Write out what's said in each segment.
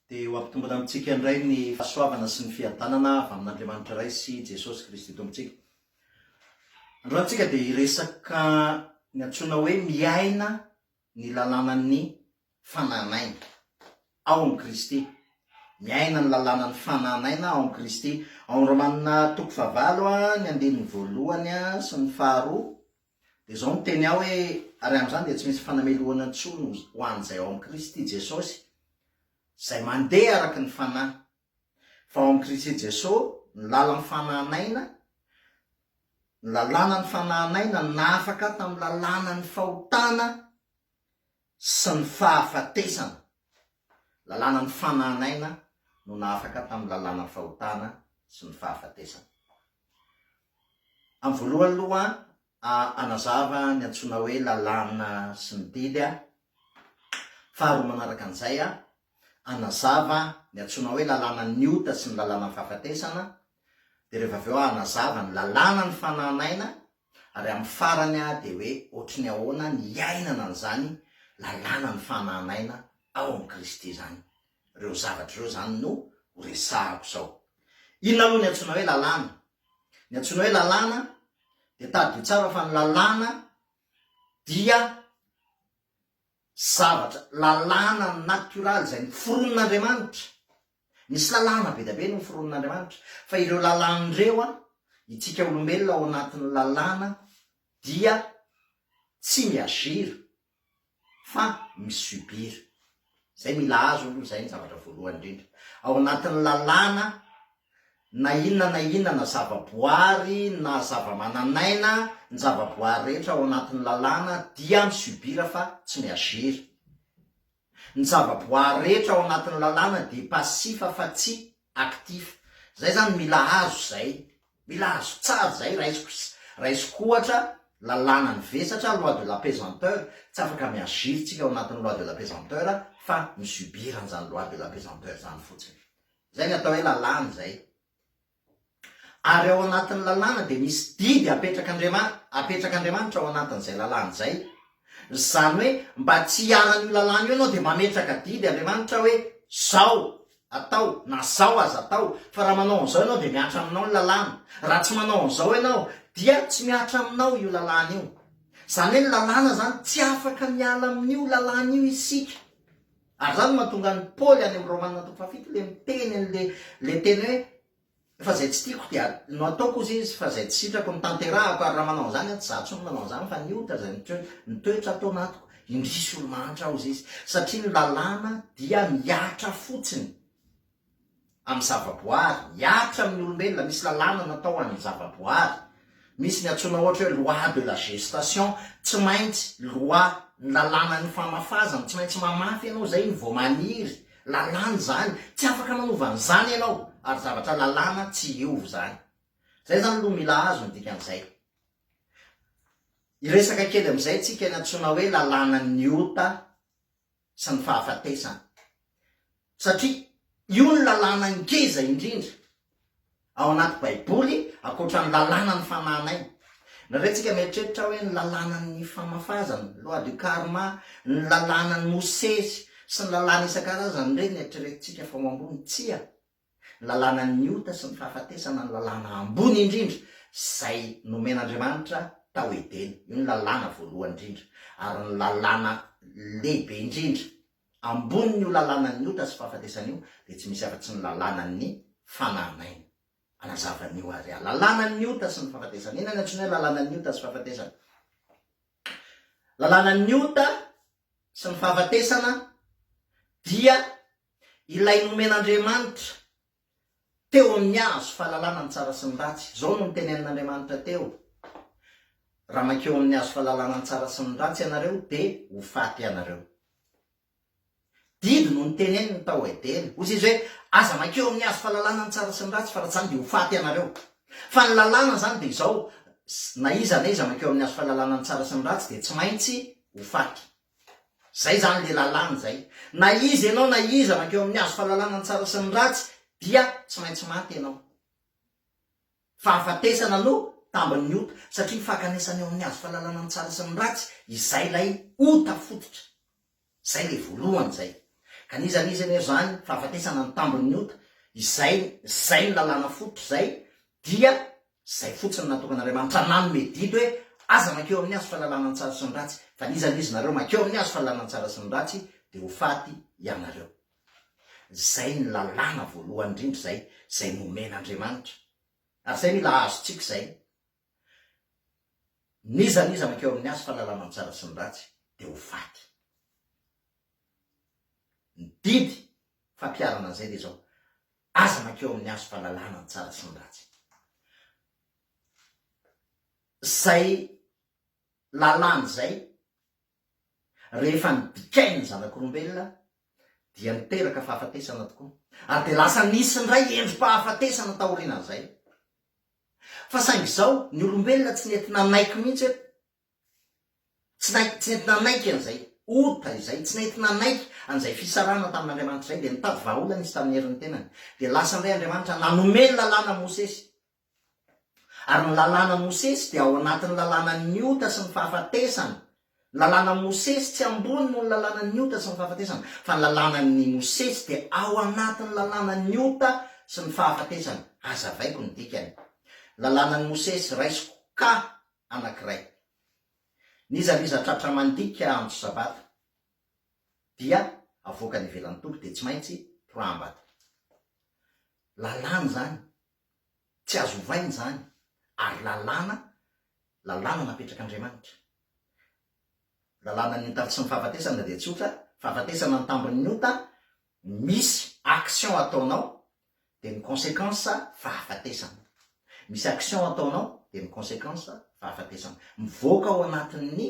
Dia ho ampitombina amintsika indray ny fahasoavana sy ny fiadanana avy amin'Andriamanitra Ray sy Jesosy Kristy Tompontsika. Androany isika dia hiresaka ny antsoina hoe miaina ny lalànan'ny fanan'aina ao amin'i Kristy. Miaina ny lalànan'ny fanan'aina ao amin'i Kristy. Ao amin'ny Romana toko fahavalo, ny andininy voalohany sy ny faharoa, Dia izao no teny ahy hoe, Ary amin'izany dia tsy misy fanamelohana intsony ho an'izay ao amin'i Kristy Jesosy, izay mandeha araka ny fanahy. Fa ao amin'i Kristy Jesosy, ny lalan'ny fanahin'aina, ny lalànan'ny fanahin'aina nahafaka ahy tamin'ny lalànan'ny fahotana sy ny fahafatesana. Lalàna mifanàn aina no nahafaka tamin'ny lalànan'ny fahotana sy ny fahafatesana. Amin'ny voalohany aloha a anazava ny antsoina hoe lalàna sy ny didy a Faharoa manaraka an'izay a anazava ny antsoina hoe lalànan'ny ota sy ny lalànan'ny fahafatesana Dia rehefa avy eo a anazava ny lalàna ny fanàn aina Ary amin'ny farany aho dia hoe ohatry ny ahoana ny hiainana an'izany lalànan'ny fanan'aina ao amin'i Kristy izany. Ireo zavatra ireo izany no horesahako izao. Inona aloha ny antsoina hoe lalàna? Ny antsoina hoe lalàna dia tadidio tsara fa ny lalàna dia zavatra, lalàna natioraly izay noforonin'Andriamanitra. Misy lalàna be dia be noforonin'Andriamanitra, fa ireo lalàna ireo, itsika olombelona ao anatin'ny lalàna dia tsy mi-agir fa mi-subir. Izay mila azo aloha izay ny zavatra voalohany indrindra. Ao anatin'ny lalàna, na inona na inona na zavaboary na zavamananaina, ny zavaboary rehetra ao anatin'ny lalàna dia mi-subir fa tsy mi-agir. Ny zava-boaary rehetra ao anatin'ny lalàna dia pasifa fa tsy aktifa. Zay zany mila azo zay. Mila azo tsara zay raisiko raisiko ohatra lalàna ny vesatra loi de la pesanteur tsy afaka mi agir tsika ao anatin'ny loi de la pesanteur fa mi subir an'zany loi de la pesanteur zany fotsiny. Zay ny atao hoe lalàna zay. Ary ao anatin'ny lalàna dia misy didy apetrak'Andriamanitra, apetrak'Andriamanitra ao anatin'izay lalàna izay. Izany hoe mba tsy hiharan'io lalàna io ianao dia mametraka didy Andriamanitra hoe izao atao na izao aza atao, fa raha manao an'izao ianao dia mihatra aminao ny lalàna, raha tsy manao an'izao ianao dia tsy mihatra aminao io lalàna io. Izany hoe ny lalàna izany tsy afaka miala amin'io lalàna io isika. Ary izany no mahatonga an'i Paoly any amin'ny Romana toko fahafito ilay miteny an'ilay ilay teny hoe fa izay tsy tiako dia no ataoko hozy izy fa izay tsy sitrako no tanterahako ary raha manao an'izany aho tsy izaho intsony no manao an'izany fa ny ohatra izay mitoetra atao anatiko indrisy olo-mahantra hozy izy satria ny lalàna dia mihatra fotsiny amin'ny zavaboary, hiaritra amin'ny olombelona, misy lalàna natao ho an'ny zavaboary, misy ny antsoina ohatra hoe loi de la gestation, tsy maintsy loi, ny lalànan'ny famafazana, tsy maintsy mamafy ianao izay ny vao maniry, lalàna izany, tsy afaka manova an'izany ianao ary zavatra lalàna tsy hiova izany. Izay izany aloha mila azo ny dikan'izay. Hiresaka kely amin'izay isika ny antsoina hoe lalànan'ny ota, sy ny fahafatesana. Satria io no lalàna ngeza indrindra ao anaty Baiboly ankoatra ny lalànan'ny fanahin'aina. Nareo tsika mieritreritra hoe ny lalànan'ny famafazana, loi du karma, ny lalànan'i Mosesy sy ny lalàna isan-karazany ireny no eritreretintsika fa ho ambony. Tsia, Ny lalànan' ny ota sy ny fahafatesana no lalàna ambony indrindra izay nomen' Andriamanitra tao Edena. Io no lalàna voalohany indrindra ary ny lalàna lehibe indrindra. Ambonin' io lalànan' ny ota sy fahafatesana io dia tsy misy afa-tsy ny lalànan' ny fanahin' aina. Anazava an' io ary aho. Lalànan' ny ota sy ny fahafatesana. Inona no antsoina hoe lalànan' ny ota sy fahafatesana? Lalànan' ny ota sy ny fahafatesana dia Ilay nomen'Andriamanitra teo amin'ny hazo fahalalana ny tsara sy ny ratsy. Izao no nitenenin'Andriamanitra teo, Raha mankeo amin'ny hazo fahalalana ny tsara sy ny ratsy ianareo, dia ho faty ianareo. Didy no niteneniny tao Edena. Hoy Izy hoe, Aza mankeo amin'ny hazo fahalalana ny tsara sy ny ratsy, fa raha tsy izany dia ho faty ianareo. Fa ny lalàna izany dia izao, Na iza na iza mankeo amin'ny hazo fahalalana ny tsara sy ny ratsy dia tsy maintsy ho faty. Zay zany le lalàna zay. Na iza ianao na iza mankeo amin'ny hazo fahalalana ny tsara sy ny ratsy dia tsy maintsy maty ianao. Fahafatesana no tambin'ny ota satria fankanesana eo amin'ny hazo fahalalana ny tsara sy ny ratsy izay ilay ota fototra. Zay le voalohany zay. Ka n'iza n'iza anefa zany fahafatesana no tambin'ny ota izay zay ny lalàna fototra zay dia Izay fotsiny no natokan'Andriamanitra hananona i Dido hoe, Aza mankeo amin'ny hazo fahalalana ny tsara sy ny ratsy, fa ny izany izy nareo mankeo amin'ny hazo fahalalana ny tsara sy ny ratsy dia ho faty ianareo. Izay ny lalàna voalohany indrindra izay, izay nomen'Andriamanitra. Ary izay mila azontsika izay. N'iza n'iza mankeo amin'ny hazo fahalalana ny tsara sy ny ratsy dia ho faty. Ny didy fampiharana an'izay dia izao, Aza mankeo amin'ny hazo fahalalana ny tsara sy ny ratsy. Izay lalàna izay, rehefa nibikainy ny zanak'olombelona, dia niteraka fahafatesana tokoa, ary dia lasa nisy indray endri-pahafatesana taorianan'izay. Fa saingy izao, ny olombelona tsy nety nanaiky mihitsy hoe Tsy nahit, tsy nety nanaiky an'izay ota izay, tsy nety nanaiky an'izay fisarahana tamin'Andriamanitra izay, dia nitady vahaolana izy tamin'ny herin'ny tenany. Dia lasa indray Andriamanitra nanome ny lalàna Mosesy. Ary ny lalàna Mosesy dia ao anatin'ny lalànan'ny ota sy ny fahafatesana. Ny lalàna Mosesy tsy ambony noho ny lalànan'ny ota sy ny fahafatesana, fa ny lalànan'ny Mosesy dia ao anatin'ny lalànan'ny ota sy ny fahafatesana. Hazavaiko ny dikany. Lalànan'i Mosesy, raisiko ka anankiray. Nizaliza tratra mandika andro sabata dia avoakany ivelan'ny toby dia tsy maintsy toraham-bata. Lalàna izany, tsy azo ovaina izany ary lalàna, lalàna napetrak'Andriamanitra. Lalànan'ny ota sy ny fahafatesana dia tsotra, fahafatesana ny tambin'ny ota, misy action ataonao dia ny consequence fahafatesana. Misy action ataonao dia ny consequence fahafatesana. Mivoaka ao anatin'ny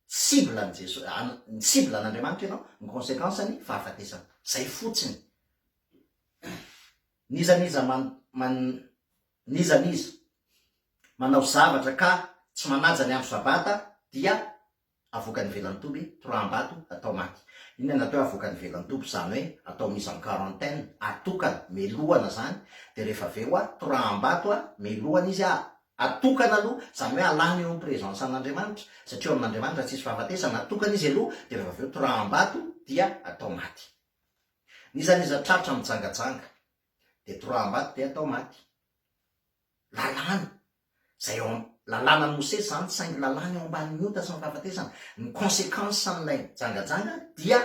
cible an'i Jeso, an, ny cible an'Andriamanitra ianao, ny consequence-ny fahafatesana. Zay fotsiny. N'iza n'iza man, man, n'iza n'iza manao zavatra ka tsy manaja ny andro sabata dia avokan'ny velantoby, toraham-bato, atao maty. Inona no atao hoe avokan'ny velantoby? Izany hoe atao mise en quarantaine, atokana, melohana izany, dia rehefa avy eo toraham-bato, melohana izy, atokana aloha, izany hoe alana eo amin'ny présence an'Andriamanitra, satria eo amin'Andriamanitra tsy hisy fahafatesana, atokana izy aloha, dia rehefa avy eo toraham-bato dia atao maty. N'iza n'iza tratra mijangajanga dia toraham-bato dia atao maty. Lalàna. Izay ao am, lalànan'i Mosesy izany, saingy lalàna eo ambanin'ny ota sy ny fahafatesana. Ny consequence an'ilay jangajanga dia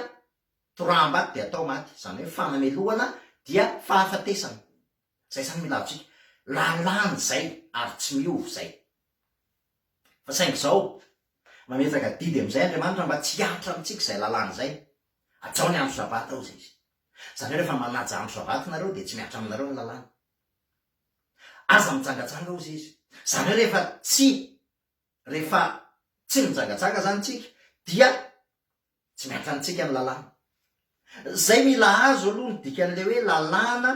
toraham-bato dia atao maty, izany hoe fanamelohana dia fahafatesana. Izay izany mila azontsika. Lalàna izay ary tsy miova izay. Fa saingy izao, mametraka didy amin'izay Andriamanitra mba tsy hihatra amintsika izay lalàna izay. Hajao ny andro sabata, hoy Izy. Izany hoe rehefa manaja andro sabata ianareo dia tsy mihatra aminareo ny lalàna. Aza mijangajanga hozy izy. Izany hoe rehefa tsy rehefa tsy mijangajanga izany tsika dia tsy miankina amintsika ny lalàna. Izay mila azo aloha ny dikan'ilay hoe lalàna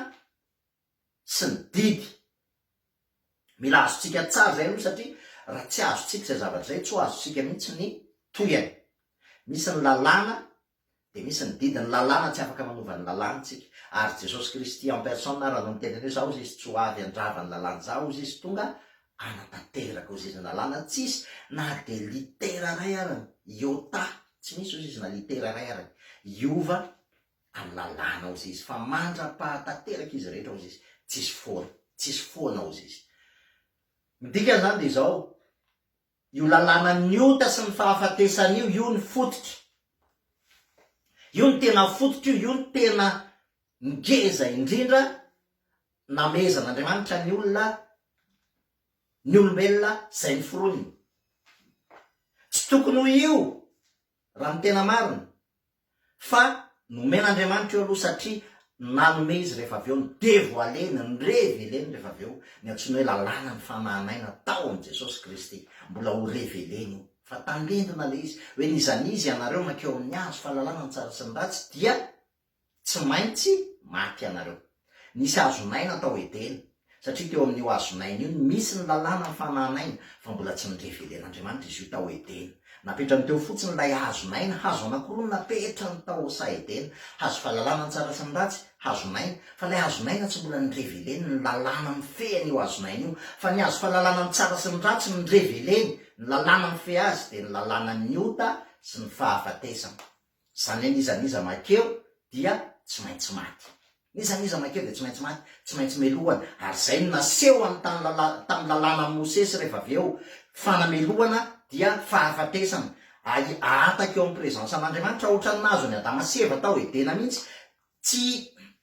sy ny didy. Mila azontsika tsara izay aloha satria raha tsy azontsika izay zavatra izay tsy ho azontsika mihitsy ny tohiny. Misy ny lalàna Dia misy ny didin'ny lalàna tsy afaka manova ny lalàna tsika. Ary Jesosy Kristy en personne ary anao miteny an'io zaho hozy izy tsy ho avy handrava ny lalàna zaho hozy izy tonga hanatanteraka hozy izy ny lalàna tsisy na dia litera ray arany iota tsy misy hozy izy na litera ray arany hiova amin'ny lalàna hozy izy fa mandra-pahatateraka izy rehetra hozy izy tsisy foana tsisy foana hozy izy ny dikany izany dia izao Io lalàna ny ota sy ny fahafatesana io, io ny fototra. Io no tena fototra io, io no tena ngeza indrindra namehezan'Andriamanitra ny olona, ny olombelona izay noforoniny. Tsy tokony ho io, raha ny tena marina. fa nomen'Andriamanitra io aloha satria nanome izy rehefa avy eo ny devoile-ny, ny revele-ny rehefa avy eo ny antsoina hoe lalàna ny fanahin'aina tao amin'i Jesosy Kristy, mbola ho revele-ny io fa tandindona ilay izy hoe n'iza n'iza ianareo mankeo amin'ny azo fahalalana ny tsara sy ny ratsy dia tsy maintsy maty ianareo. Nisy hazon'aina tao Edena, satria teo amin'io hazon'aina io no misy ny lalàna fanan'aina, fa mbola tsy norevelen'Andriamanitra izy io tao Edena. Napetrany teo fotsiny ilay hazon'aina, hazo anankiroa no napetrany tao sa Edena, hazo fahalalana ny tsara sy ny ratsy, hazon'aina, fa ilay hazon'aina tsy mbola noreveleny ny lalàna mifehy an'io hazon'aina io, fa ny hazo fahalalana ny tsara sy ny ratsy no noreveleny ny lalàna mifehy azy, dia ny lalànan'ny ota sy ny fahafatesana. Izany hoe n'iza n'iza makeo dia tsy maintsy maty. N'iza n'iza makeo dia tsy maintsy maty, tsy maintsy melohana. Ary izay no naseho amin'ny tany lala, tamin'ny lalànan'i Mosesy rehefa avy eo. Fanamelohana dia fahafatesana. Ahi, ahataka eo amin'ny presansan'Andriamanitra, ohatran'ny nahazo an'i Adama sy Eva tao Edena mihitsy. Tsy,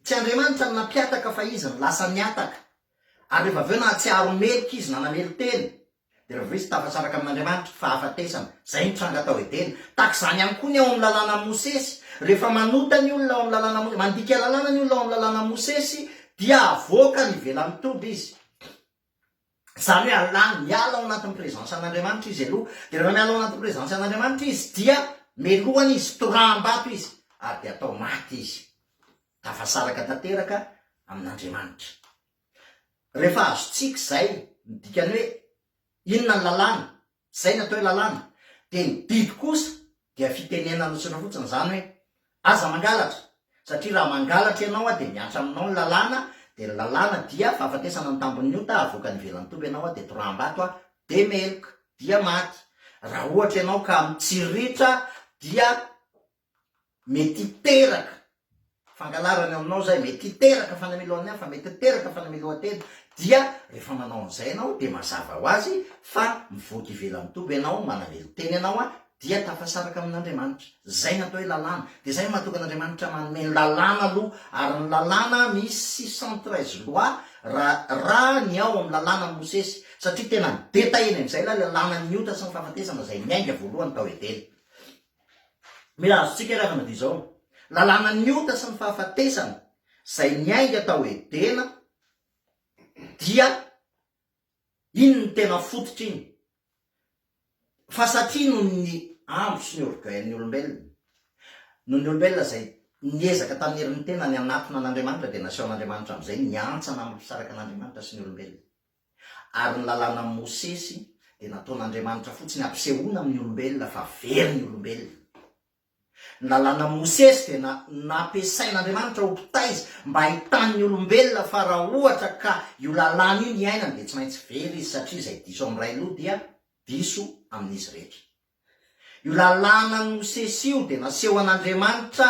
tsy Andriamanitra no nampihataka fa izy no lasa nihataka. Ary rehefa avy eo nahatsiaro meloka izy, nanamelo-tena. Dia raha vao izy tafatsaraka amin' Andriamanitra, fahafatesana. Izay no tranga tao Edena. Tahaka izany ihany koa ny ao amin'ny Lalànan'i Mosesy. Rehefa manota ny olona ao amin'ny Lalànan'i Mosesy, mandika lalàna ny olona ao amin'ny Lalànan'i Mosesy, dia avoakany ivelan'ny toby izy. Izany hoe alàny, miala ao anatin'ny prezansa an' Andriamanitra izy aloha. Dia rehefa miala ao anatin'ny prezansa an' Andriamanitra izy, dia melohany izy, toraham-bato izy, ary dia atao maty izy. Tafasaraka tanteraka amin' Andriamanitra. Rehefa azontsika izay, ny dikany hoe, inona ny lalàna, izay ny atao hoe lalàna, dia ny didy kosa dia fitenenana notsindrina fotsiny izany hoe, aza mangalatra, satria raha mangalatra ianao an dia mihatra aminao ny lalàna, dia ny lalàna dia fahafatesana ny tambin'ny ota, avoaka any ivelan'ny toby ianao an dia toraham-bato an dia meloka, dia maty, raha ohatra ianao ka mitsiriritra dia. Mety hiteraka fangalarana eo aminao izay, mety hiteraka fanamiloan'ny hafa, mety hiteraka fanamiloan-tena, dia rehefa manao an'izay ianao dia mazava ho azy fa mivoaka ivelan'ny toby ianao, manamelo tena ianao an, dia tafasaraka amin'Andriamanitra. Izay no atao hoe lalàna. Dia izay no mahatonga an'Andriamanitra manome ny lalàna aloha, ary ny lalàna misy six cent treize lois raha ny ao amin'ny lalànan'i Mosesy, satria tena nidetahina indray ilay lalànan'ny ota sy ny fahafatesana izay niainga voalohany tao Edena. Mila azontsika ry havana dia izao ny lalànan'ny ota sy ny fahafatesana izay niainga tao Edena dia iny ny tena fototra iny fa satria noho ny andro sy ny orgueil-n'ny olombelona noho ny olombelona izay niezaka tamin'ny herin'ny tenany hanatona an'Andriamanitra dia nasehon'Andriamanitra amin'izay ny hantsana amim-pisaraka an'Andriamanitra sy ny olombelona. Ary ny lalànan'i Mosesy dia nataon'Andriamanitra fotsiny hampisehoana amin'ny olombelona fa very ny olombelona. Ny lalànan'i Mosesy dia na, nampiasain'Andriamanitra ho mpitaiza mba hahitany ny olombelona fa raha ohatra ka io lalàna io no iainany dia tsy maintsy very izy satria izay diso amin'ny ray loha dia diso amin'izy rehetra. Io lalànan'i Mosesy io dia nasehoan'Andriamanitra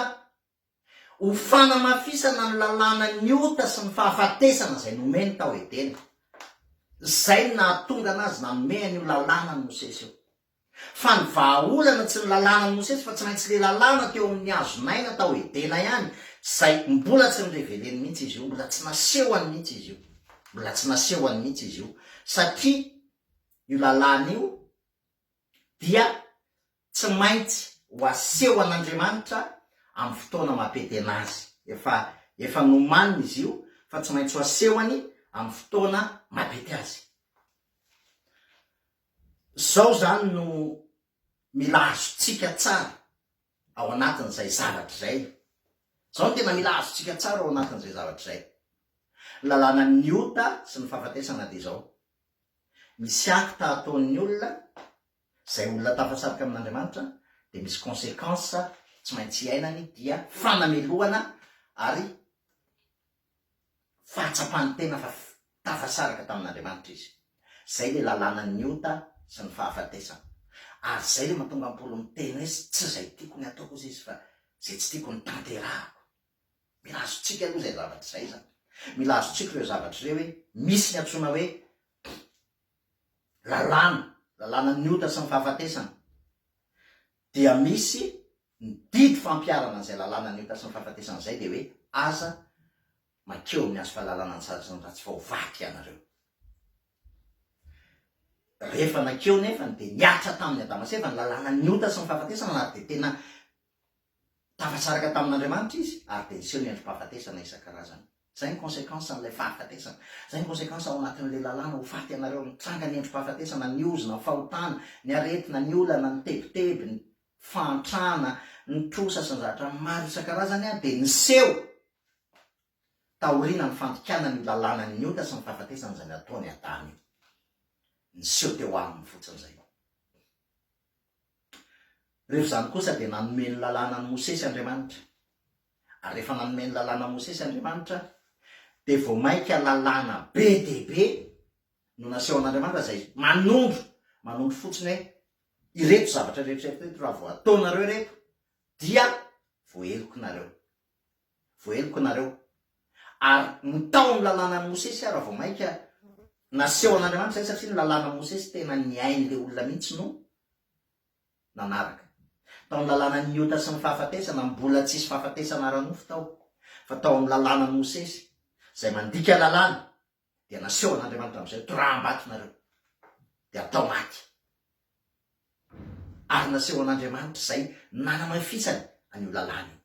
Ho fanamafisana ny lalàna ny ota sy ny fahafatesana izay nomeny tao Edena. Izay no nahatonga anazy nanome an'io lalàna an'i Mosesy io. Fa ny vahaolana tsy ny lalàna an'i Mosesy fa tsy maintsy le lalàna teo amin'ny hazon'aina tao Edena ihany izay mbola tsy noreveleny mihitsy izy io, mbola tsy nasehony mihitsy izy io. Mbola tsy nasehony mihitsy izy io satria io lalàna io, dia tsy maintsy ho asehon'Andriamanitra amin'ny fotoana mampetena azy. Efa, efa nomaniny izy io, fa tsy maintsy ho asehony amin'ny fotoana mampety azy. Izao izany no mila azontsika tsara ao anatin'izay zavatra izay. Izao no tena mila azontsika tsara ao anatin'izay zavatra izay. Ny lalànan'ny ota sy ny fahafatesana dia izao. misy acte ataon'ny olona, izay olona tafasarika amin'Andriamanitra dia misy consequence tsy maintsy iainany dia fanamelohana ary fahatsapany tena fa tafasaraka tamin'Andriamanitra izy. Izay ilay lalànan'ny ota sy ny fahafatesana. Ary izay ilay mahatonga an'i Paoly miteny hoe tsy izay tiako ny ataoko hozy izy fa izay tsy tiako no tanterahako. Mila azontsika aloha izay zavatra izay izany. Mila azontsika ireo zavatra ireo hoe misy ny antsoina hoe lalàna, lalànan'ny ota sy ny fahafatesana. Dia misy ny didy fampiharana an'izay lalànan'ny ota sy ny fahafatesana izay dia hoe aza makeo amin'ny hazo fahalalana an-tsary sy ny ratsy fa ho vato ianareo. Rehefa nakeo nefany dia niatra tamin'ny Adama sy Eva ny lalànan'ny ota sy ny fahafatesana na dia tena Tafasaraka tamin'Andriamanitra izy ary dia niseho ny androm-pahafatesana isan-karazany. Izay ny conséquence an'ilay fahafatesana. Izay ny conséquence ao anatin'ilay lalàna, ho faty ianareo. Nitranga ny androm-pahafatesana, ny ozona, ny fahotana, ny aretina, ny olana, ny tebiteby, ny fahantrana, ny trosa sy ny zavatra maro isan-karazany dia niseho taorianan'ny fandikana ny lalànan'ny ota sy ny fahafatesana izay nataon'i Adama io. Niseho teo aminy fotsiny izay. Rehefa izany kosa dia nanome ny lalàna an'i Mosesy Andriamanitra. Ary rehefa nanome ny lalàna an'i Mosesy Andriamanitra dia vao mainka lalàna be dia be no nasehon'Andriamanitra izay manondro, manondro fotsiny hoe ireto zavatra rehetra ireto raha vao ataonareo ireto dia voahelokinareo. Voaheloka nareo. Ary no tao amin'ny lalànan'i Mosesy aho raha vao mainka nasehon'Andriamanitra izay satria ny lalànan'i Mosesy tena ny ain'ilay olona mihitsy no nanaraka. Tao ny lalànan'ny ota sy ny fahafatesana, mbola tsisy fahafatesana ara-nofo tao, fa tao amin'ny lalànan'i Mosesy, izay mandika lalàna, dia nasehon'Andriamanitra amin'izay toraham-bato nareo, dia atao maty. Ary nasehon'Andriamanitra izay nanamafisany an'io lalàna io.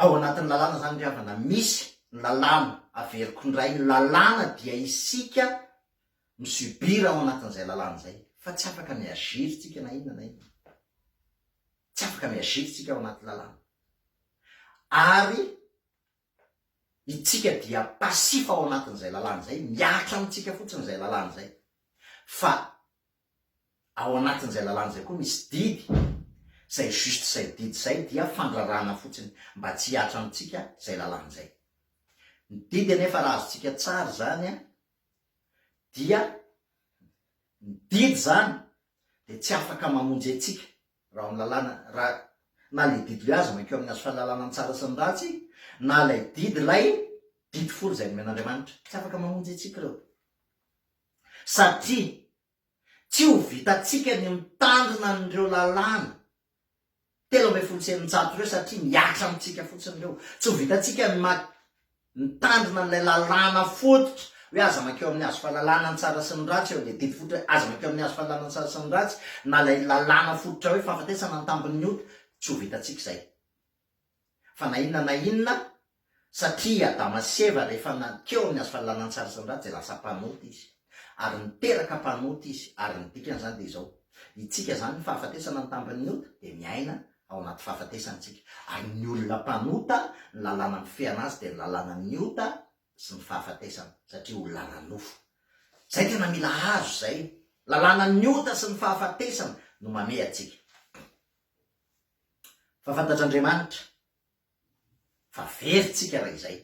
Ao anatin'ny lalàna izany ry havana, misy ny lalàna, averiko indray, ny lalàna dia isika mi-subir ao anatin'izay lalàna izay, fa tsy afaka mi-agir isika na inona na inona. Tsy afaka mi-agir isika ao anaty lalàna. Ary Itsika dia passif ao anatin'izay lalàna izay, mihatra amintsika fotsiny izay lalàna izay. Fa ao anatin'izay lalàna izay koa misy didy, izay juste izay didy izay dia fandraràna fotsiny mba tsy hihatra amintsika izay lalàna izay. Ny didy anefa raha azontsika tsara izany dia ny didy izany dia tsy afaka mamonjy antsika Raha ny lalàna, raha na ilay didy hoe aza mankeo amin'ny hazo fahalalana ny tsara sy ny ratsy, na ilay didy, ilay didy folo izay nomen'Andriamanitra, tsy afaka mamonjy antsika ireo. Satria tsy ho vitantsika ny mitandrina an'ireo lalàna telo ambin'ny folo sy eninjato ireo satria mihatra amintsika fotsiny ireo. Tsy ho vitantsika ny Mitandrina an'ilay lalàna fototra hoe aza mankeo amin'ny hazo fahalalana ny tsara sy ny ratsy eo amin'ilay didy fototra hoe aza mankeo amin'ny hazo fahalalana ny tsara sy ny ratsy na ilay lalàna fototra hoe fahafatesana ny tambin'ny ota, tsy ho vitantsika izay fa na inona na inona satria Adama sy Eva rehefa nankeo amin'ny hazo fahalalana ny tsara sy ny ratsy dia lasa mpanota izy ary niteraka mpanota izy ary ny dikan'izany dia izao, itsika izany ny fahafatesana ny tambin'ny ota dia miaina ao anaty fahafatesana isika, ary ny olona mpanota, ny lalàna mifehana azy dia ny lalànan'ny ota sy ny fahafatesana, satria olona ara-nofo. Izay tena mila hazo izay, lalànan'ny ota sy ny fahafatesana no mamehy antsika. Fa fantatr'Andriamanitra fa very tsika raha izay.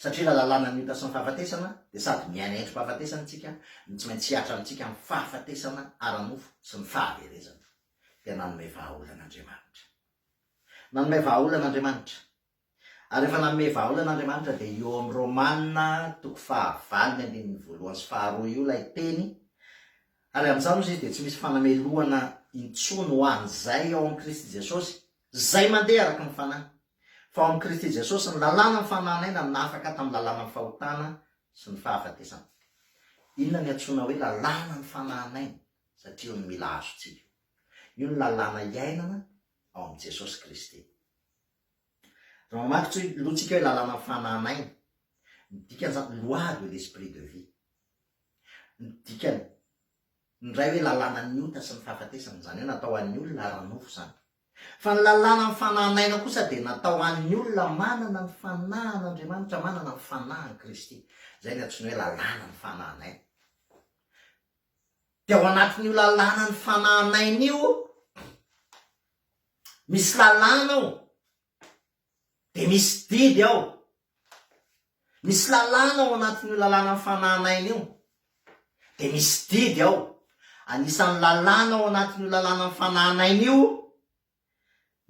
Satria raha lalàna ny ota sy ny fahafatesana dia sady miaina endri-pahafatesana isika no tsy maintsy hihatra amintsika amin'ny fahafatesana ara-nofo sy ny fahaverezana. Dia nanome vahaolana Andriamanitra. Nanome vahaolana Andriamanitra. Ary rehefa nanome vahaolana Andriamanitra dia io ao amin'ny Romana toko fahavalo ny andininy voalohany sy faharoa io ilay teny, ary amin'izany ozy izy dia tsy misy fanamelohana intsony ho an'izay ao amin'i Kristy Jesosy Izay mandeha araka ny Fanahy. Fa ao amin'i Kristy Jesosy ny lalàna ny fananan'aina nafaka tamin'ny lalànan'ny fahotana sy ny fahafatesana. Inona no iantsoana hoe lalàna ny fananan'aina? Satria io no mila azontsika io. Io no lalàna iainana ao amin'i Jesosy Kristy. Raha mamaky lohantsika hoe lalàna ny fananan'aina, ny dikan'izany loi de l'esprit de vie. Ny dikany indray hoe lalànan'ny ota sy ny fahafatesana, izany hoe natao ho an'ny olona ara-nofo izany. Fa ny lalànan'ny fanahin'aina kosa dia natao ho an'ny olona manana ny fanahin'Andriamanitra, manana ny fanahin'i Kristy. Izay no antsoina hoe lalànan'ny fanahin'aina. Dia ao anatin'io lalànan'ny fanahin'aina io, misy lalàna ao, Dia misy didy ao. Misy lalàna ao anatin'io lalànan'ny fanan'aina io. Dia misy didy ao. Anisan'ny lalàna ao anatin'io lalànan'ny fanan'aina io,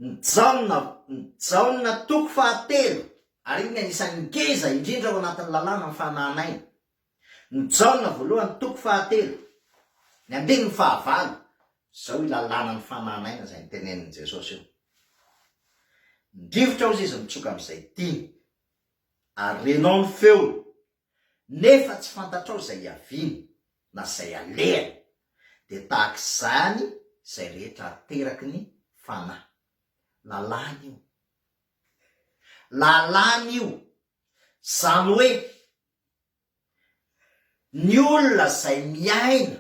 ny Jaona, ny Jaona toko fahatelo, ary io ny anisan'ny ngeza indrindra ao anatin'ny lalànan'ny fanan'aina. Ny Jaona voalohany toko fahatelo, ny andininy fahavalo, izao io lalàna ny fanahy naina izay notenenin'i Jesosy io, Ny rivotra hozy izy mitsoka amin'izay tiany, ary renao ny feony, nefa tsy fantatrao izay hiaviany, na izay alehany, dia tahaka izany izay rehetra ateraky ny fanahy. Lalàna io. Lalàna io. Izany hoe, Ny olona izay miaina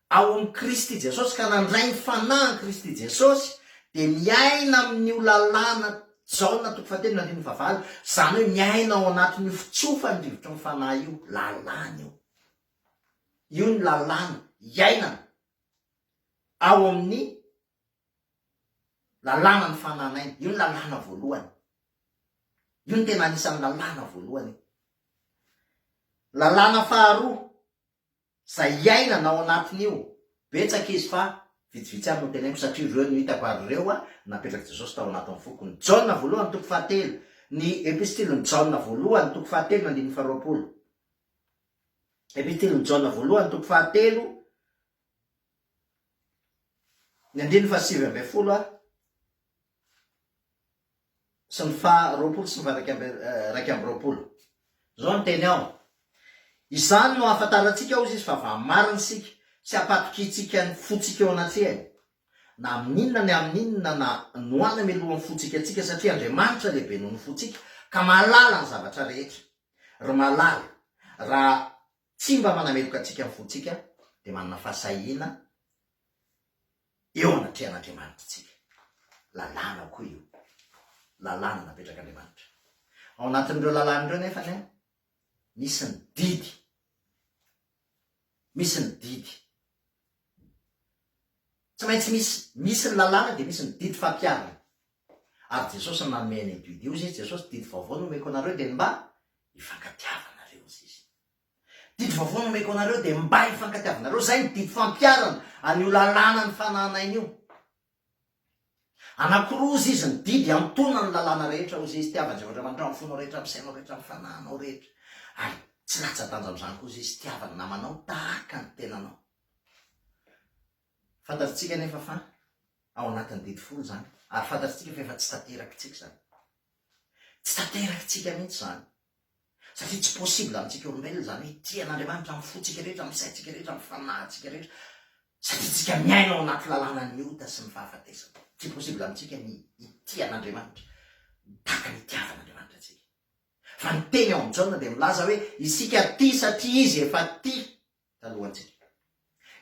ao amin'i Kristy Jesosy ka nandray ny Fanahy an'i Kristy Jesosy dia miaina amin'io lalàna Jaona toko fahatelo ny andininy fahavalo, izany hoe miaina ao anatin'io fitsofan'ny rivotry ny Fanahy io, lalàna io. Io ny lalàna iainana ao amin'ny Lalàna ny fanan'aina. Io ny lalàna voalohany. Io no tena anisan'ny lalàna voalohany e. Lalàna faharoa, izay iainana ao anatin'io, betsaka izy fa vitsivitsy ihany no teneniko satria ireo no hitako ary ireo napetrak'i Jesosy tao anatin'ny foko. Ny Jaona voalohany toko fahatelo, ny epistilin'i Jaona voalohany toko fahatelo ny andininy faharoapolo. Epistilin'i Jaona voalohany toko fahatelo Ny andininy fahasivy ambin'ny folo ary sy ny faha roapolo sy ny faha iraika amby roapolo. Izao no teny ao, Izany no hahafantarantsika, hozy izy, fa va marina isika, sy hampatokiantsika ny fontsika eo anatrehany, na amin' inona ny amin' inona na no any amiloha ny fontsika antsika, satria Andriamanitra lehibe noho ny fontsika, ka mahalala ny zavatra rehetra. Ry malala, raha Tsy mba manameloka antsika ny fontsika dia manana fahasahiana eo anatrehan'Andriamanitra isika. Lalàna avokoa io. Lalàna napetrak'Andriamanitra. Ao anatin'ireo lalàna ireo nefa anie, misy ny didy. Misy ny didy. Tsy maintsy misy misy ny lalàna dia misy ny didy fampiharana. Ary Jesosy no nanome an'io didy io. Hoy izy Jesosy, didy vaovao no omeko anareo dia ny mba hifankatiavanareo. Hoy izy. Didy vaovao no omeko anareo dia mba hifankatiavanareo. Izay ny didy fampiharana an'io lalàna ny fananana aina io. Anankiroa, hozy izy, ny didy antonona ny lalàna rehetra, hozy izy, tiava an'i Jehovah Andriamanitra amin'ny fonao rehetra, amin'ny sainao rehetra, amin'ny fanahinao rehetra, ary tsy latsa-danja amin'izany koa, hozy izy, tiava ny namanao tahaka ny tenanao. Fantatritsika anefa fa ao anatin'ny didy folo izany, ary fantatritsika fa efa tsy tanterakitsika izany. Tsy tanterakitsika mihitsy izany. Satria tsy possible amintsika olombelona izany hoe tia an'Andriamanitra amin'ny fontsika rehetra, amin'ny saintsika rehetra, amin'ny fanahintsika rehetra satria tsika miaina ao anaty lalanan'ny ota sy ny fahafatesana. Tsy possible amintsika ny hitia an'Andriamanitra tahaka ny itiavan'Andriamanitra antsika. Fa ny teny ao amin'ny Jaona dia milaza hoe isika tia satria izy efa tia. talohantsika.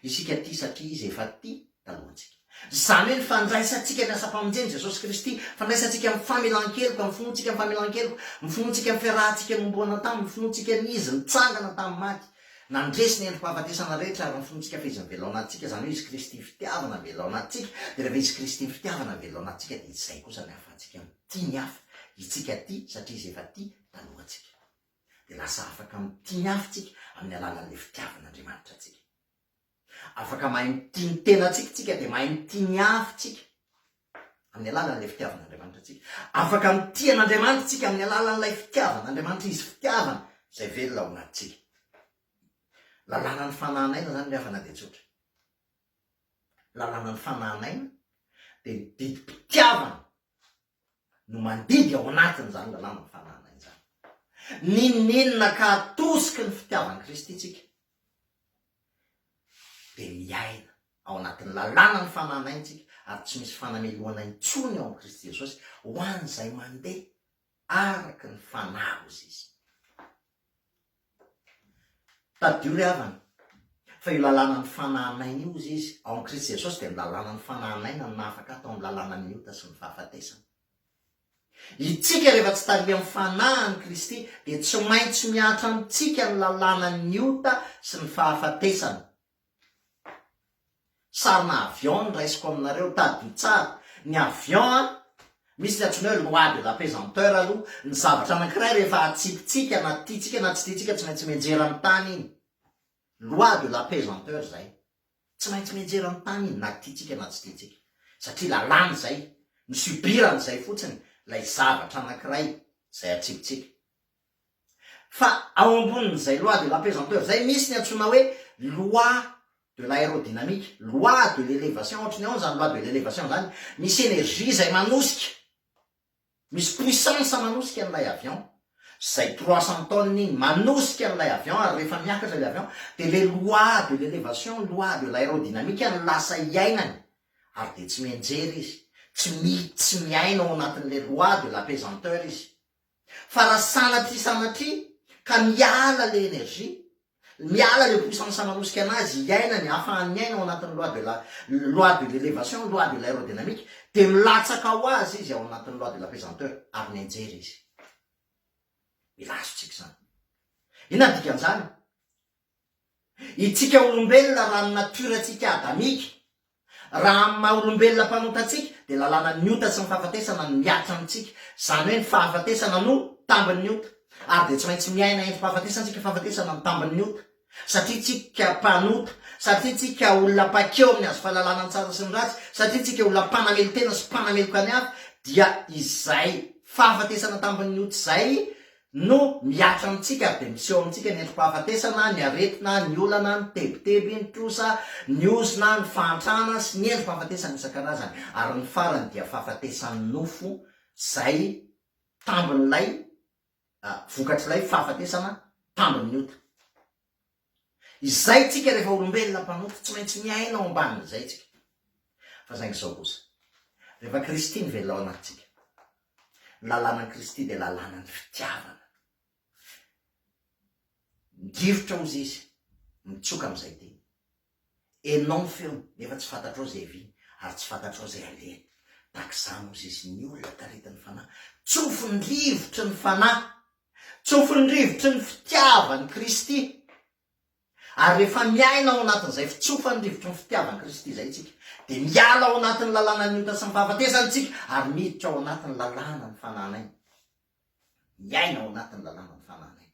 Isika tia satria Izy efa tia talohantsika. Izany hoe ny fandraisantsika ny asam-pamonjen'i Jesosy Kristy, fandraisantsika amin'ny famelan-keloka, amin'ny finoantsika amin'ny famelan-keloka, amin'ny finoantsika amin'ny fiarahantsika nohomboana taminy, ny finoantsika ny Izy nitsangana tamin'ny maty, nandresy ny endri-pahafatesana rehetra, ary ny finoantsika fa Izy mivelona antsika, izany hoe Izy Kristy fitiavana mivelona antsika, dia rehefa Izy Kristy ny fitiavana mivelona antsika dia izay kosa ny ahafahantsika mitia ny hafa, itsika tia satria Izy efa tia talohantsika. dia lasa afaka mitia ny hafa isika amin'ny alalan'ny fitiavan'Andriamanitra antsika. Afaka mahay mitia ny tenantsika isika dia mahay mitia ny hafa isika amin'ny alalan'ilay fitiavan'Andriamanitra antsika. Afaka mitia an'Andriamanitra isika amin'ny alalan'ilay fitiavan'Andriamanitra izy fitiavana izay velona ao anatintsika. Lalàna ny fanahin'aina izany ny havana dia tsotra. Lalàna ny fanahin'aina dia ny didim-pitiavana no mandidy ao anatin'izany lalàna mifanarina izany. N'inon'inona ka atosiky ny fitiavan'i Kristy isika, dia miaina ao anatin'ny lalàna ny fananantsika ary tsy misy fanamelohana intsony ao amin'i Kristy Jesosy ho an'izay mandeha araka ny fanahiny izy. Tadidio ry havana, fa io lalànan'ny fanahin'aina io hozy izy, ao amin'i Kristy Jesosy dia ny lalànan'ny fanahin'aina no nahafaka tao amin'ny lalànan'ny ota sy ny fahafatesana. Itsika rehefa tsy tarihan'ny fanahin'i Kristy dia tsy maintsy miantra amintsika ny lalànan'ny ota sy ny fahafatesana. Sarina avion no raisiko aminareo, tadidio tsara. Ny avion an, misy ny antsoina hoe loi de la pesanteur aloha, ny zavatra anankiray rehefa hatsiakintsika na tiantsika na tsy tiantsika tsy maintsy mianjera ny tany iny. Loi de la pesanteur izay. Tsy maintsy mianjera ny tany iny na tiantsika na tsy tiantsika. Satria lalàna izay, ny subir an'izay fotsiny ilay zavatra anankiray izay hatsiakintsika. Fa ao ambonin'izay loi de la pesanteur izay misy ny antsoina hoe loi de l'aérodynamique, loi de l'elevation, ohatry ny ahoana izany loi de l'elevation izany? Misy energie izay manosika, misy puissance manosika an'ilay avion, izay trois cents tonnes iny, manosika an'ilay avion ary rehefa miakatra ilay avion dia ilay loi de l'elevation, loi de l'aérodynamique no lasa iainany ary dia tsy mianjera izy, tsy mi, tsy miaina ao anatin'ilay loi de la pesanteur izy. Fa raha sanatria sanatria ka miala le energie, miala le puissance manosika anazy hiainany, ahafahany miaina ao anatin'ny loi de la, loi de l'elevation, loi de l'aerodynamique, dia milatsaka ho azy izy ao anatin'ny loi de la pesanteur, ary mianjera izy. Mila azontsika izany. Inona ny dikan'izany? Itsika olombelona raha ny natiora-tsika adamika, raha amin'ny maha olombelona mpanota antsika dia lalànan'ny ota sy ny fahafatesana no miaritra amintsika, izany hoe ny fahafatesana no tambin'ny ota, ary dia tsy maintsy miaina entim-pahafatesana tsika, fahafatesana no tambin'ny ota, satria tsika mpanota, satria tsika olona mpankeo amin'ny hazo fahalalana ny tsara sy ny ratsy, satria tsika olona mpanamelon-tena sy mpanameloka ny hafa, dia izay fahafatesana tambin'ny ota izay no mihatra amintsika ary dia miseho amintsika ny endri-pahafatesana, ny aretina, ny olana, ny tebiteby, ny trosa, ny ozona, ny fahantrana sy ny endri-pahafatesana isan-karazany ary ny farany dia fahafatesan'ny nofo izay tambin'ilay vokatr'ilay fahafatesana tambin'ny ota. Izay tsika rehefa olombelona mpanompo, tsy maintsy miaina ao ambanin'izay tsika. Fa saingy izao kosa, rehefa Kristy no velona ao anatintsika, ny lalànan'i Kristy dia lalànan'ny fitiavana. Midirotra hozy izy, mitsoka amin'izay tiany. Henonao ny feony, nefa tsy fantatrao izay viany, ary tsy fantatrao izay alehany. Tahaka izany hozy izy, ny olona taritin'ny Fanahy, tsofin'ny rivotry ny Fanahy. Tsofin'ny rivotry ny fitiavan'i Kristy. Ary rehefa miaina ao anatin'izay fitsofan'ny rivotry ny fitiavan'i Kristy izay isika, dia miala ao anatin'ny lalànan'ny ota sy ny fahafatesana isika ary miditra ao anatin'ny lalànan'ny fanan'aina. Miaina ao anatin'ny lalànan'ny fanan'aina.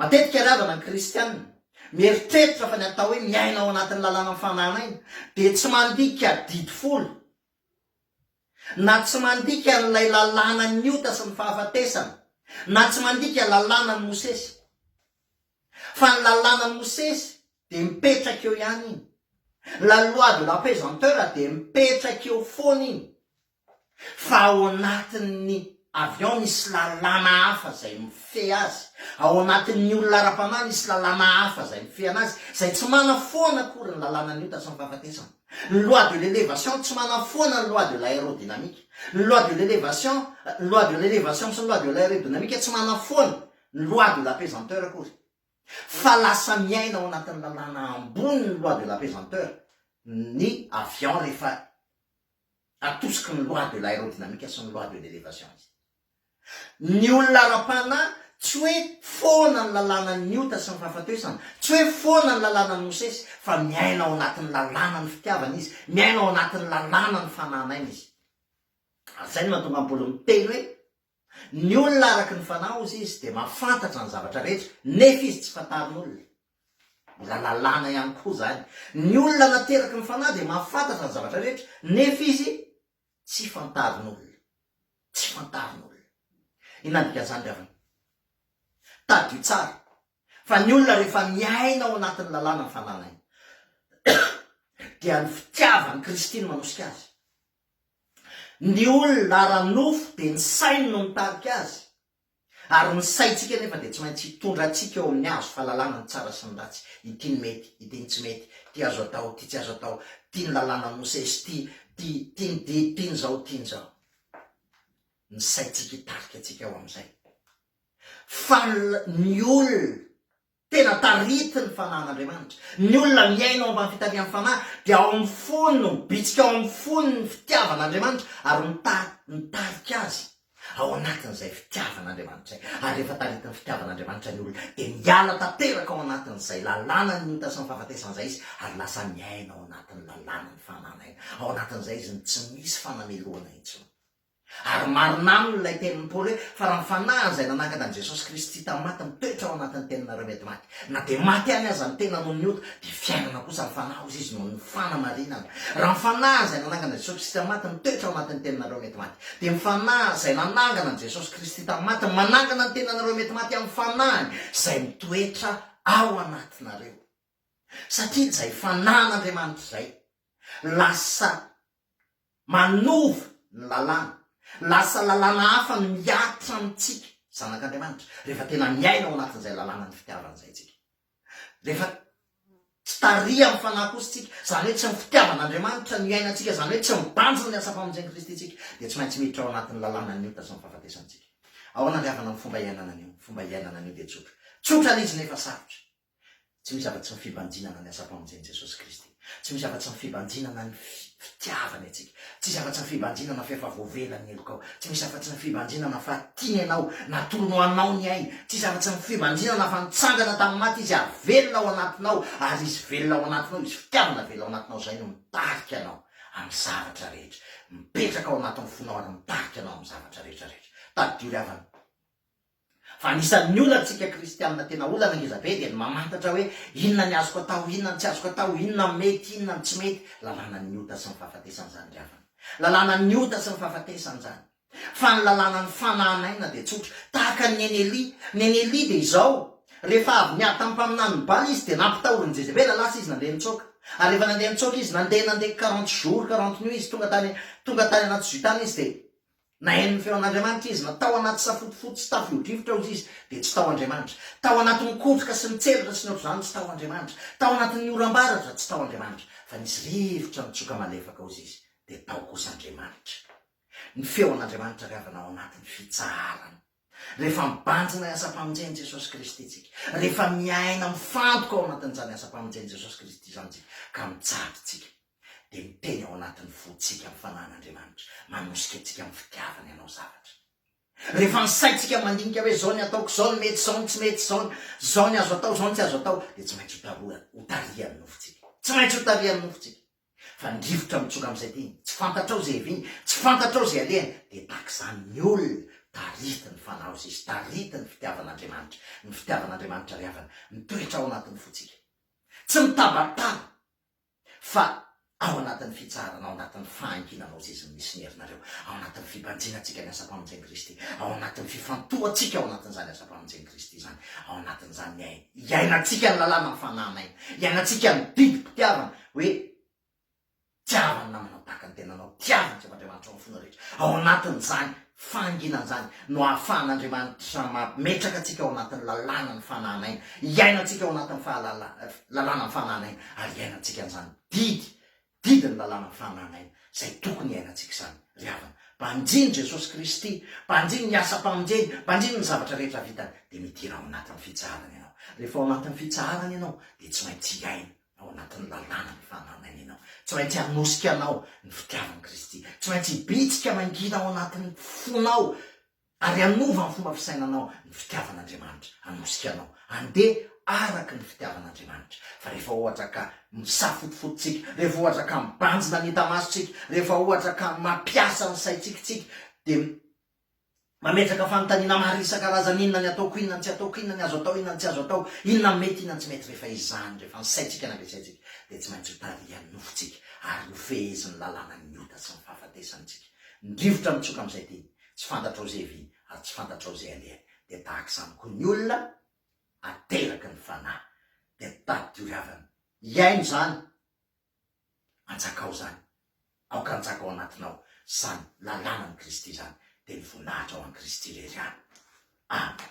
Matetika ry havana ny kristianina, mieritreritra fa ny atao hoe miaina ao anatin'ny lalànan'ny fanan'aina dia tsy mandika didy folo na tsy mandika an'ilay lalànan'ny ota sy ny fahafatesana, na tsy mandika lalànan'i Mosesy. Fa ny lalànan'i Mosesy dia mipetraka eo ihany iny. La loi de la pesanteur dia mipetraka eo foana iny. Fa ao anatin'ny Avy ao misy lalàna hafa izay mifehy azy, ao anatin'ny olona ara-panahy misy lalàna hafa izay mifehy anazy, izay tsy manafoana akory ny lalànan'ny ota sy ny fahafatesana. Ny loi de l'elevation tsy manafoana ny loi de l'aérodynamique. Ny loi de l'elevation, ny loi de l'elevation sy ny loi de l'aérodynamique tsy manafoana ny loi de la pesanteur akory. Fa lasa miaina ao anatin'ny lalàna ambony ny loi de la pesanteur ny avion rehefa. Atosiky ny loi de l'aerodynamique sy ny loi de l'elevation izy. Ny olona ara-panahy, tsy hoe foana ny lalànan'ny ota sy ny fahafatesana, tsy hoe foana ny lalànan'i Mosesy, fa miaina ao anatin'ny lalànan'ny fitiavana izy, miaina ao anatin'ny lalànan'ny fananana aina izy. Ary izay no mahatonga an'i Paoly miteny hoe. Ny olona araka ny fanahy hozy izy dia mahafantatra ny zavatra rehetra nefa izy tsy fantarin'olona. Mbola lalàna ihany koa izany. Ny olona nateraky ny fanahy dia mahafantatra ny zavatra rehetra nefa izy tsy fantarin'olona. Tsy fantarin'olona. Inona ny dikan'izany ry havana? Tadidio tsara fa ny olona rehefa miaina ao anatin'ny lalàna ny fananany dia ny fitiavan'i Kristy no manosika azy. Ny olona ara-nofo dia ny sainy no mitarika azy, ary ny saintsika anefa dia tsy maintsy hitondra antsika eo amin'ny hazo fahalalana ny tsara sy ny ratsy, ity ny mety, ity ny tsy mety, ity azo atao, ity tsy azo atao, ity ny lalànan'i Mosesy, ity, ity, ity ny didy, ity ny izao, ity ny izao. Ny saintsika hitarika antsika eo amin'izay. Fa ny olona. Tena taritin'ny fanahin'Andriamanitra. Ny olona miaina ao ambany fitarihan'ny fanahy dia ao amin'ny fony no mibitsika ao amin'ny fony ny fitiavan'Andriamanitra ary mitari, mitarika azy ao anatin'izay fitiavan'Andriamanitra izay. Ary rehefa taritin'ny fitiavan'Andriamanitra ny olona dia miala tanteraka ao anatin'izay lalànan'ny ota sy ny fahafatesana izay izy ary lasa miaina ao anatin'ny lalànan'ny fananahina. Ao anatin'izay izy no tsy misy fanamelohana intsony. Ary marina aminy ilay tenin'i Paoly hoe, Fa raha ny fanahiny izay nanangana an'i Jesosy Kristy tamin'ny maty mitoetra ao anatin'ny teninareo mety maty, na dia maty ihany aza ny tena noho ny ota, dia fiainana kosa ny fanahy, hoy izy, noho ny fanamarinana. Raha ny fanahiny izay nanangana an'i Jesosy Kristy tamin'ny maty mitoetra ao anatin'ny teninareo mety maty, dia ny fanahy izay nanangana an'i Jesosy Kristy tamin'ny maty no manangana ny teninareo mety maty amin'ny fanahiny izay mitoetra ao anatinareo. satria izay fanahin'Andriamanitra izay lasa manova ny lalàna, lasa lalàna hafa ny mihatra amintsika zanak'Andriamanitra rehefa tena miaina ao anatin'izay lalànan'ny fitiavany izay tsika, rehefa tsy tariha amin'ny fanahy kosa tsika, izany hoe tsy ny fitiavan'Andriamanitra no iainantsika, izany hoe tsy mibanjina ny asam-pamonjen'i Kristy tsika, dia tsy maintsy miditra ao anatin'ny lalànan'ny ota sy ny fahafatesan tsika. Ahoana ny havana ny fomba iainana an'io? Ny fomba iainana an'io dia tsotra, tsotra lizina efa sarotra. Tsy misy afa-tsy ny fibanjinana ny asam-pamonjen'i Jesosy Kristy. Tsy misy afa-tsy ny fibanjinana ny fitiavany antsika. Tsy misy afa-tsy ny fibanjinana fa efa voavela ny helokao. Tsy misy afa-tsy ny fibanjinana fa tiany anao, natolony ho anao ny ainy. Tsy misy afa-tsy ny fibanjinana fa nitsangana tamin'ny maty Izy ary velona ao anatinao, ary Izy velona ao anatinao, Izy fitiavana velona ao anatinao izay no mitarika anao amin'ny zavatra rehetra. Mipetraka ao anatin'ny fonao ary mitarika anao amin'ny zavatra rehetra rehetra. Tadidio ry havana. Fa anisan'ny olantsika kristianina tena olana ngeza be dia ny mamantatra hoe inona ny azoko atao, inona ny tsy azoko atao, inona ny mety, inona ny tsy mety. Lalànan'ny ota sy ny fahafatesana izany ry havana. Lalànan'ny ota sy ny fahafatesana izany. Fa ny lalànan'ny fanahana aina dia tsotra. Tahaka an'i Neny Elia. Neny Elia dia izao, rehefa avy niady tamin'ny mpaminanin'i Bala izy dia nampitahorin'i Jezebela, lasa izy nandeha nitsoaka. Ary rehefa nandeha nitsoaka izy, nandeha nandeha quarante jours, quarante nuits izy, tonga tany tonga tany anaty zui tany izy dia Nahaino ny feon'Andriamanitra izy, na tao anaty safotofoto sy tafiodrivotra ozy izy, dia tsy tao Andriamanitra. Tao anatin'ny kotroka sy ny tselatra sy ny ohatr'izany, tsy tao Andriamanitra. Tao anatin'ny oram-baratra, tsy tao Andriamanitra. Fa nisy rivotra nitsoka malefaka ozy izy, dia tao kosa Andriamanitra. Ny feon'Andriamanitra ry havana ao anatin'ny fitsaharana. Rehefa mibanjina ny asam-pamonjen'i Jesosy Kristy tsika, rehefa miaina mifantoka ao anatin'izany asam-pamonjen'i Jesosy Kristy izany tsika ka mijady tsika, dia miteny ao anatin'ny fontsika ny Fanahin'Andriamanitra, manosika antsika amin'ny fitiavany hanao zavatra. Rehefa ny saintsika mandinika hoe zao ny ataoko, zao ny mety, zao ny tsy mety, zao ny, zao ny azo atao, zao ny tsy azo atao, dia tsy maintsy ho tarohany, ho tarihan'ny nofontsika. Tsy maintsy ho tarihan'ny nofontsika. Fa ny rivotra mitsoka amin'izay tiany, tsy fantatrao izay heviany, tsy fantatrao izay alehany, dia tahaka izany ny olona, tarity ny fanaon'izay izy, tarity ny fitiavan'Andriamanitra, ny fitiavan'Andriamanitra ry havana, mitoetra ao anatin'ny fontsika. Tsy mitabataba, fa ao anatin'ny fitsaharana, ao anatin'ny fahanginanao zezin'ny misineranareo, ao anatin'ny fibanjinantsika ny asam-pamonjen'i Kristy, ao anatin'ny fifantohantsika ao anatin'izany asam-pamonjen'i Kristy izany, ao anatin'izany ny iainantsika ny lalànan'ny fanahinaina, iainantsika ny didim-pitiavana, hoe tiava ny namanao tahaka ny tenanao, tiava ny Jehovahandriamanitrao amin'ny fonao rehetra. Ao anatin'izany fahanginana izany no ahafahan'Andriamanitra mametraka antsika ao anatin'ny lalànan'ny fanahana aina, hiaina antsika ao anatin'ny fahalala, lalànan'ny fanahana aina ary hiaina antsika an'izany didy, didy ny lalànan'ny fanahana aina izay tokony hiaina antsika izany. Ry havana, banjino Jesosy Kristy, banjino ny asam-pamonjeny, banjino ny zavatra rehetra vitany, dia midira ao anatin'ny fitsaharana ianao. Rehefa ao anatin'ny fitsaharana ianao dia tsy maintsy hiaina ao anatin'ny lalàna ny fanarenanao. Tsy maintsy hanosika anao ny fitiavan'i Kristy. Tsy maintsy hibitsika mangina ao anatin'ny fonao ary hanova ny fomba fisainanao ny fitiavan'Andriamanitra. Hanosika anao handeha araka ny fitiavan'Andriamanitra. Fa rehefa ohatra ka misafotofoto tsika, rehefa ohatra ka mibanjina ny enta-masontsika, rehefa ohatra ka mampiasa ny saintsika tsika, dia Mametraka fanontaniana maro isan-karazany, inona ny ataoko, inona ny tsy ataoko, inona ny azo atao, inona ny tsy azo atao, inona ny mety, inona ny tsy mety, rehefa izany, rehefa ny saintsika nampiasaintsika, dia tsy maintsy ho tarihan'ny nofontsika ary ho fehezin'ny lalànan'ny ota sy ny fahafatesana isika. Ny rivotra mitsoka amin'izay tiany, tsy fantatrao izay viany ary tsy fantatrao izay alehany. Dia tahaka izany koa ny olona ateraky ny fanahy, dia tadidio ry havana, hihaino izany. Anjakao izany, aoka hanjaka ao anatinao izany lalàna an'i Kristy izany, dia ny voninahitra ho an'i Kristy irery ihany. Amen.